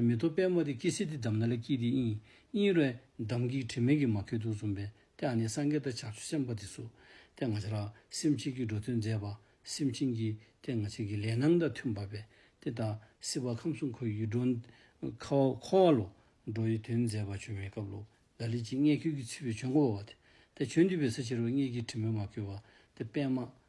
མེ་ཏོག་པད་མོ་དེ་སྐྱེ་སྲིད་དེ་བསྡམས་ན་ལ་སྐྱིད་དེ་དབྱིན་དབྱིན་རེད་འདམ་སྐྱིད་དྲི་མེད་ཀྱི་མ་ཁེ་དུག་འཛོམས་པའི་དེ་ཨ་ནེ་སངས་རྒྱས་ལྟར་ཆགས་ཆུ་སེམས་དཔའ་དེ་སུ་དེ་ང་ཅག་ལ་སེམས་གཅིག་གིས་འགྲོ་དོན་མཛད་པ་སེམས་ཅན་གྱི་དེ་ང་ཅག་གི་ལས་སྣང་དང་མཐུན་པ་བས་དེ་ད་སྲིད་བར་ཁམས་གསུམ་འཁོར་ཡུལ་འགྲོ་ཁ་བ་འཁོར་བ་ལོ་འགྲོ་ཡི་དོན་མཛད་པ་བྱོན་མེད་སྐབས་ལོ་ལ་ལི་སྐྱིད་མངལ་ཁྱོད་ཀྱི་ཚུད་པའི་བྱོན་གོ་བ་བ་དེ་བྱོན་འདུས་པའི་ས་ཕྱི་རོལ་མངལ་སྐྱིད་དྲི་མེད་མ་ཁེ་བ་དེ་པད་མ་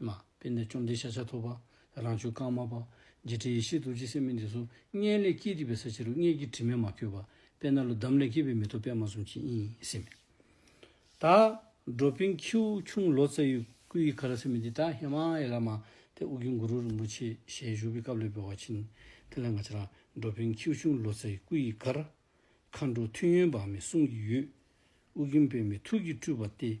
མ། དཔེ་འདི་བཅོམ་ལྡན་ཤཱ་ཤ་ཐོབ། རང་བྱུང་རྐང་མ་པདྨ་འབྱེད་འཕྲེང་ཡེ་ཤེས་རྡོ་རྗེ་སེམས་མའི་མདུན། སྔས་ལས་སྐྱེས་སྡིག་པའི་ས་ཕྱི་རུ། སྔས་ཀྱི་དྲི་མས་མ་བསྐྱོད་པ། དཔེར་ན་ལོ་འདམ་ལས་སྐྱེས་པའི་མེ་ཏོག་པདྨ་གསུམ་གྱིས་གཡེང། སྲིད་མེད་དག། འགྲོ་ཕིང་ཁྱེའུ་ཆུང་ལོ་ཙཱ་ཡུལ་སྐུ་ཡི་གྷ་ར་སེ་མི་འདི་དག་ཧེ་མ་ཡེ་ལ་མ། དེ་དབུ་རྒྱུད་གུ་རུ་རིན་པོ་ཆེ་ཞལ་བཞུགས་པའི་སྐབས་ལས་འབུལ་བར་ཕྱིན། དེ་ལ་འགའ་ཅི་ལགས། འགྲོ་ཕིང་ཁྱེའུ་ཆུང་ལོ་ཙཱ་ཡི་སྐུ་ཡི་གྷ་ར། མཁའ་འགྲོ་མཐུ་ཡོན་འབངས་མི་གསུམ་གྱི་ཡུལ། དབུ་རྒྱུད་པདྨའི་ཐུགས་ཀྱི་སྤྲུལ་པ་སྟེ།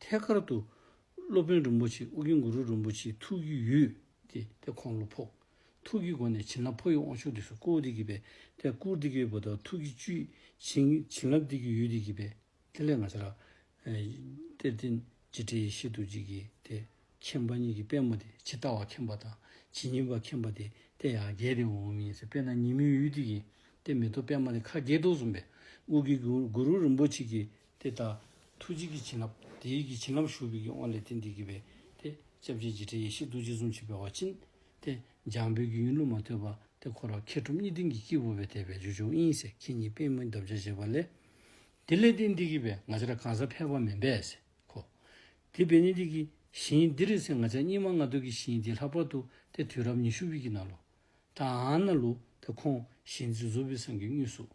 ཐད་ཀར་དུ། སློབ་དཔོན་རིན་པོ་ཆེ་ཨོ་རྒྱན་གུ་རུ་རིན་པོ་ཆེའི་ཐུགས་ཀྱི་ཡུལ། ཏེ་དེ་ཁོང་ལོ་ཕོག། ཐུགས་ཀྱི་སྒོ་ནས་བྱིན་རླབས་འཕོ་ཡུལ་དབང་ཕྱུག་འདི་སོ་ཀོའུ་ཏི་ཀི་པའི་ཐད་བསྐུར་ཏི་ཀའི་བུ་དག་ཐུགས་ཀྱི་བཅུད། བྱིན་རླབས་ཏི་ཀི་ཡུལ་ཏི་ཀི་པའི་ཐད་ལས་ང་ཤ་ར། གཏེར་སྟེ། རྗེ་དྲི་ཡི་ཤེལ་དུ་བརྗིད་ཀྱི་དེ། མཁྱེན་པ་གཉིས་ཀྱི་པད་མོ་དེ་ཇི་ལྟ་བ་མཁྱེན་པ་དང་ཇི་སྙེད་པ་མཁྱེན་པ་དེ་སྟེ་ཡང་རྒྱས་ཏེ་འོང་མི་ཡིན་ཟེར་དཔེར་ན་ཉིན་མོའི་ཡུལ་ཏི་ཀི་སྟེ་མེ་ཏོག་པད་མ་ལས་ཁ་རྒྱས་ཐུགས་གསུམ་པའི་དབུས་ཀྱི་གུ་རུ་རིན་པོ་ཆེ་ཀྱི་དེ་ལྟར་ཐུགས་རྗེ་ཀྱི་བྱིན་རླབས་དེ་ཡིད་ཀྱི་བྱིན་རླབས་ཞུགས་པའི་དབང་ལས་དེ་འདི་དགེ་བའི་དེ་བཅྭ་བརྒྱད་ཀྱི་ཕྲིན་ཡེ་ཤེས་རྡོ་རྗེ་གཟུངས་ཆེན་པའི་བར་ཕྱིན། དེ་འཇམ་དཔལ་གྱི་ཡུན་ལུང་མ་ཐོས་པ་དེ་འཁོར་བར་མཁས་གྲུབ་གཉིས་ལྡན་གྱི་སྐྱེས་བུ་བས་དད་པའི་རྗེས་འཇུག་དབྱིངས་སེ་གྷི་ཉིད་པད་མོའི་འདབ་བརྒྱ་བཞེས་པ་ལས། དེ་ལས་དེ་འདི་དགེ་བའི་ང་ཅག་གང་ཟག་ཕལ་བ་མིན་པས་གོ། དེ་བས་ནི་དེ་གི་ཞིང་འདི་རེ་ཟན་ང་ཅག་སྙིགས་མ་ལྔ་བདོ་གི་ཞིང་འདི་ལྷག་པར་དུ་དེ་དུས་རབས་ཉི་ཤུ་བི་གི་ནང་ལོ། དང་ན་ལུ་དེ་ཁོང་གཞི་འཛིན་གཟུ་བི་སངས་ཀྱི་དངོས་གཟུགས།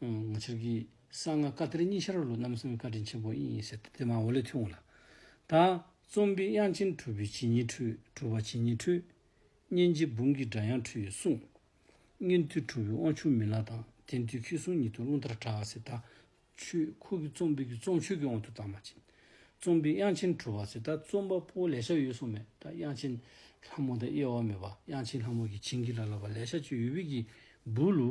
ང་ཕྱིར་གྱིས་གསང་སྔགས་བཀའ་གཏེར་གཉིས་ཤར་ལུགས་རྣམ་གསུམ་གྱི་བཀའ་དྲིན་ཆེན་པོ་ཡིན་ཡིན་ཟེར་ཏེ་དེ་མང་བོ་ལས་ཐོས་འོངས་ལ། ད་རྩོམ་པའི་དབྱངས་ཅན་གྲུབ་པའི་བྱིན་ཉིད་འཁྲུལ་གྲུབ་བ་བྱིན་ཉིད་འཁྲུལ། སྙན་བརྒྱའི་འབུམ་གྱི་སྒྲ་དབྱངས་འཁྲུལ་ཡོད་གསུངས། སྙན་ཐོས་གྲུབ་པའི་དབང་ཕྱུག་མི་ལ་དང་དེ་མཐུས་མཁས་གསུང་ཉིད་དུ་རླུང་ལྟར་གྲགས་ཟེར་ད། ཆོས་འཁོར་གྱི་རྩོམ་སྤེལ་གྱི་རྩོམ་ཆོས་ཀྱི་དབང་དུ་བཏང་མ་ཕྱིན། རྩོམ་པའི་དབྱངས་ཅན་གྲུབ་བ་ཟེར་ད་རྩོམ་པ་པོ་ལས་ཤག་ཡོད་གསུངས་མོད་ད་དབྱངས་ཅན་ལྷ་མོ་དང་དབྱེ་བ་མེད་པ་དབྱངས་ཅན་ལྷ་མོ་གྱིས་བྱིན་གྱིས་བརླབས་ལ་བ་ལས་ཤག་ཅིག་ཡོད་བོད་ཀྱི་འབུལ་ལོ།